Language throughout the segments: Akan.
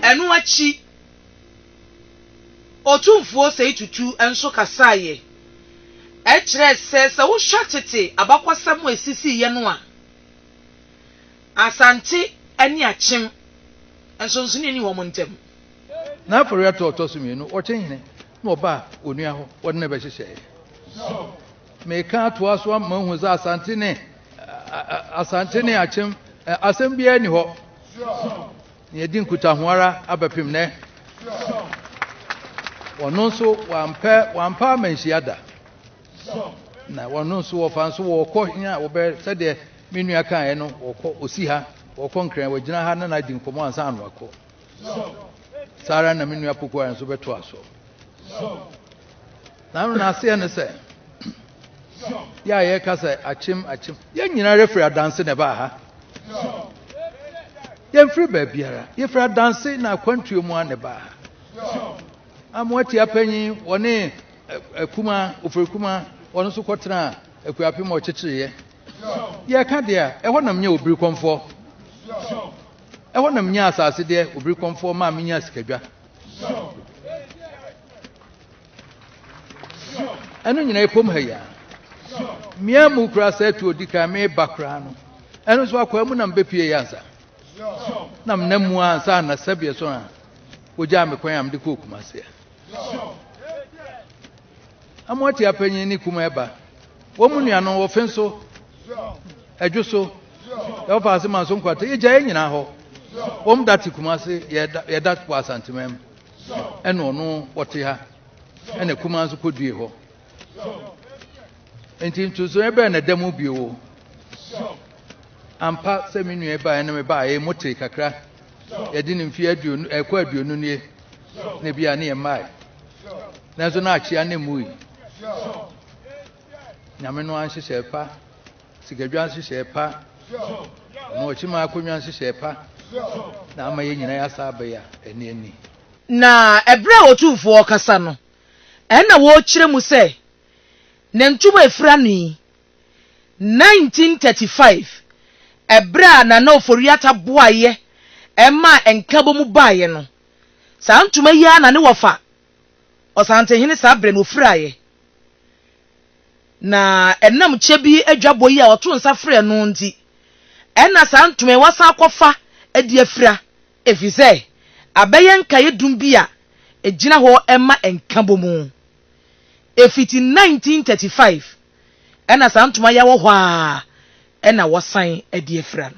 Ɛno akyi, Otumfuo Seyi Tutu nso kasaeɛ. Ɛkyerɛɛ sɛ, sɛ wohwɛ tete abakɔsɛm a ɛsisiiɛ no a, Asante ne Akyem, nsonsonoeɛ nni wɔn ntam. N'aforeɛtoɔ a ɔtɔ so mmienu, ɔkyehene na ɔbaa onua hɔ, wɔde no bɛhyehyɛeɛ. Meka atoa so ama moahu sɛ Asante ne Asante ne Akyem asɛm biara ni hɔ. Yɛdi nkutaho ara abɛpem nɛ. Wɔno nso wampɛ wampa amanhyia da. Na wɔno nso wɔfa nso wɔkɔ hia wɔbɛ sɛdeɛ me nua kaeɛ no wɔkɔ osi ha wɔkɔ nkran wɔgyina ha na na adi nkɔmɔ ansa ano akɔ. saa ara na me nua pokuwa nso bɛtoa so na no n'aseɛ ne sɛ yɛ a yɛka sɛ akyem akyem yɛn nyinaa yɛfiri adanse na ɛbaa ha yɛmfiri baabiara yɛfiri adanse na akwantuo mu a na ɛbaa ha amoatia panyin wɔne akuma ofiri kuma wɔn nso kɔtena akuapem a ɔkyekyereeɛ yɛka deɛ a ɛhɔ nam nyɛ obiri kɔmfoɔ Ɛhɔ na menyaa asase deɛ obirikɔmfoɔ maa menyaa sikadwa. Ɛno nyinaa ɛpom ha yi a. Mmea mu koraa sɛ ɛto odi kan meba koraa no. Ɛno nso akwaa mu na mebɛpie yɛ ansa. Na mena mu ansa na sɛbeɛ so a wɔgyaa me kwan a mede kɔɔ Kumase a. Amoatia panyin ne kuma ɛba. Wɔn mu nua no wɔ fe so, ɛdwo so, ɛwɔ paase ma so nkwata. Yɛgya yɛn nyinaa hɔ. Wɔn da te kuma ase, yɛda wɔ asanteman mu. Ɛna ɔno wɔte ha, ɛna kuma nso kɔdue hɔ. Nti ntoso ɛbɛn na ɛda mu bio o. Ampa sɛ me nua baeɛ ne me baeɛ mu te kakra. Yɛde ne mfie aduonu, ɛkɔ aduonu nie. Na ebi a ne yɛ mmae. Nanso na akyea ne mmui. Nyame no ara nhyehyɛɛ pa, sikadwa nhyehyɛɛ pa, na ɔkyima akonnwa nhyehyɛɛ pa na ama yɛn nyinaa yɛasa aba yi a, ɛne ani. Na ɛberɛ a Otumfoɔ rekasa no, ɛnna wɔrekyerɛ mu sɛ, Ne ntobo a ɛfiri ano yi, 1935, ɛberɛ a Nana Ofori-Atta boaeɛ maa Nkabom baeɛ no, saa ntoma yi ara na ne wɔfa Ɔsantehene saa berɛ no ɔfiraeɛ, na ɛnam kyɛ bi adwabɔ yi a ɔtoo nsa frɛɛ no nti, ɛna saa ntoma yi wasan akɔfa de afira, ɛfiri sɛ abɛyɛ nkaeɛdum bi a ɛgyina hɔ ma nkabɔmu. Ɛfiti 1935 ɛna saa ntoma yi awɔ hɔ ara na wɔsan de afira no.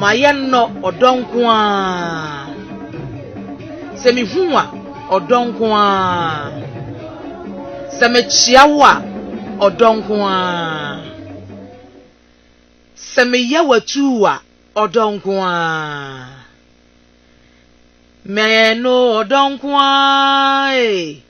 Ma yɛnnɔ ɔdɔ nko ara. Sɛ mehu wo a, ɔdɔ nko ara. Sɛ mekyea wo a, ɔdɔ nko ara. Sɛ meyɛ w'atuu a, ɔdɔ nko ara. Mɛno ɔdɔ nko ara ee.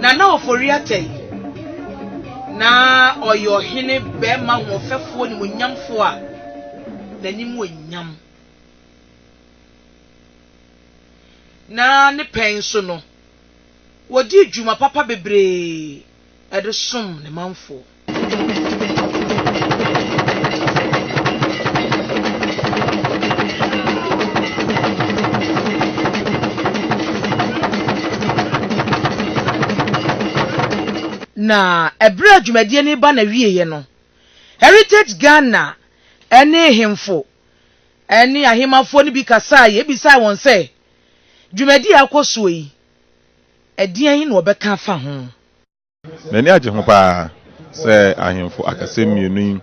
Nana Ofori-Attayi, na ɔyɛ ɔhene barima hoɔfɛfoɔ nimuonyamfoɔ a n'anim wɔ nyam, na ne pɛn so no, ɔdii dwuma papa bebree de somm ne manfoɔ. Na bere a dwumadie no reba n'awieeɛ no, Heritage Ghana ne ahemfo ne ahemmafoɔ no bi kasaeɛ bisaa wɔn sɛ, Dwumadie a ɛrekɔ soɔ yi, ɛdeɛn na wɔbɛka afa ho? N'ani agye ho paa sɛ ahemfo akɛse mmienu yi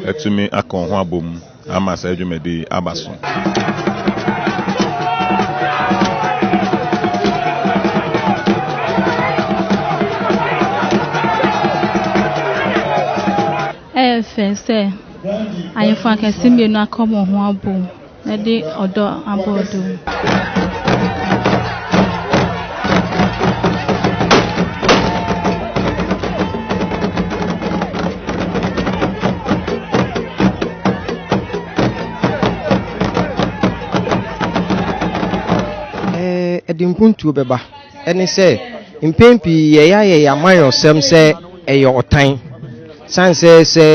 atumi aka wɔn ho abom ama saa dwumadi yi aba so. Ɛyɛ fɛ sɛ ahemfo akɛse mmienu aka wɔn ho abom. Na de ɔdɔ abɔ ɔdɔ mu. Ɛde mpuntuo bɛba. ne sɛ mpɛn pii yɛyɛ yɛn amanyɔsɛm sɛ ɛyɛ ɔtan. Sane sɛ sɛ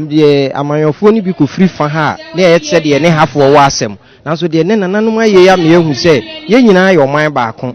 deɛ amanyɔfoɔ no bi kɔfiri fa ha a, na ɛyɛ te sɛ deɛ ne hafoɔ wɔ asɛm. Nanso deɛ ne nananom ayɛ yi ama yɛahu sɛ yɛn nyinaa yɛ ɔman baako.